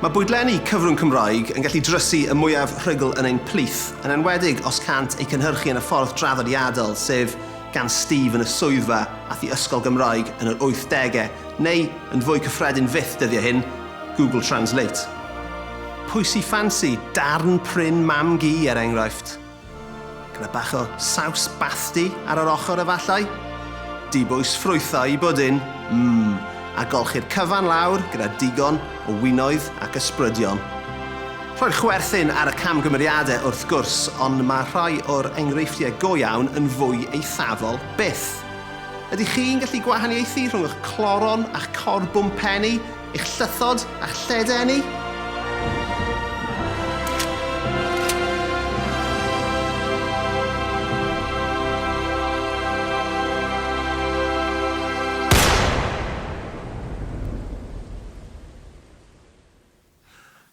Mae bwydlenni cyfrwng Cymraeg yn gallu drysu y mwyaf rhugl yn ein plith, yn enwedig os cânt eu cynhyrchu yn y ffordd draddodiadol, sef gan Steve yn y swyddfa ath i ysgol Gymraeg yn yr wythdegau, neu, yn fwy cyffredin fyth dyddiau hyn, Google Translate. Pwy sy ffansi darn prin mam-gu, er enghraifft? Gyda bach o saws bathdy ar yr ochr efallai? Dibwys ffrwythau i bwdin, mm, a golchi'r cyfan lawr gyda digon o winoedd ac ysbrydion. Rhoi'r chwerthin ar y camgymeriadau wrth gwrs, ond mae rhai o'r enghreifftiau go iawn yn fwy eithafol byth. Ydych chi'n gallu gwahaniaethu rhwng eich cloron a'ch corbwmpenni Eich llythod a'ch lled-enni?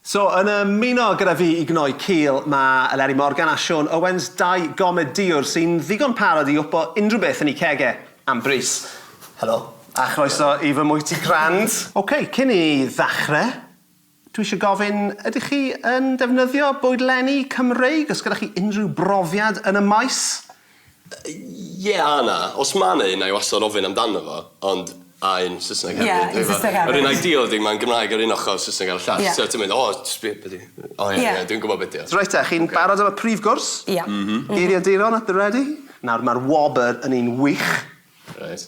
So, yn ymuno gyda fi i gnoi cil, mae Eleri Morgan a Siôn Owens, dau gomedïwr sy'n ddigon parod i wpo unrhyw beth yn eu cegau, am bris. Helo. A chroeso i fy mwyty crand. Ok, cyn i ni ddechrau, dwi eisiau gofyn, ydych chi yn defnyddio bwydlenni Cymreig? Oes gyda chi unrhyw brofiad yn y maes? Ie a na. Os ma' 'na un 'nai wastad ofyn amdano fo ond a un Sysneg hefyd. Ie un Sysneg hefyd. Yr un ideal ydi mae'n Gymraeg ar un ochor a Sysneg ar y llall. Ie. So ti'n mynd o js be' be' 'di... O ie ie dwi'n gwbod be' 'di o. Reit te chi'n barod am y prif gwrs? Ie. M-hm. Geiriaduron at the ready. Nawr ma'r wobr yn un wych. Reit.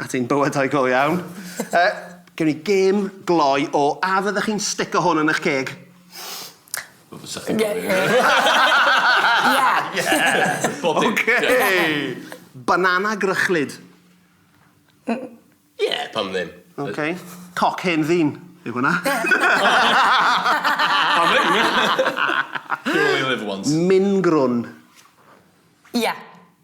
At ein bywydau go iawn. Yy, gewn ni gêm gloi o a fyddech chi'n stico hwn yn 'ych ceg? Wel fysa chi'n gofyn. Ie! Bob dim. Ocei! Banana grychlyd. Ie, pam ddim? Ocei. Coc hen ddyn yw hwnna. Pam ddim? You only live once. Mingrwn. Ie.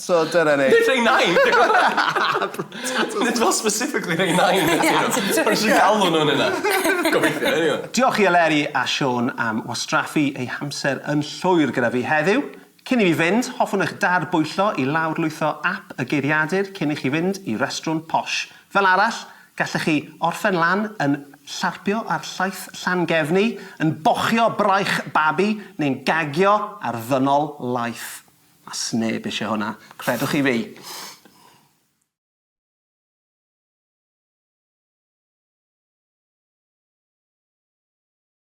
So dyna ni. Nid rhei nain! Nid fel specifically rhei nain ydyn nhw. Ie, ti'n joio. O'n i jyst yn galw nhw'n hynna. Gobeithio, eniwe. Diolch i Eleri a Siôn am wastraffu eu hamser yn llwyr gyda fi heddiw. Cyn i fi fynd, hoffwn eich dad-bwyllo i lawrlwytho ap y Geiriadur cyn i chi fynd i restrwn posh. Fel arall, gallech chi orffen lan yn llarpio ar llaeth Llangefni, yn bochio braich babi, neu'n gagio ar ddynol laeth. A sneb isie hwnna. Credwch chi fi.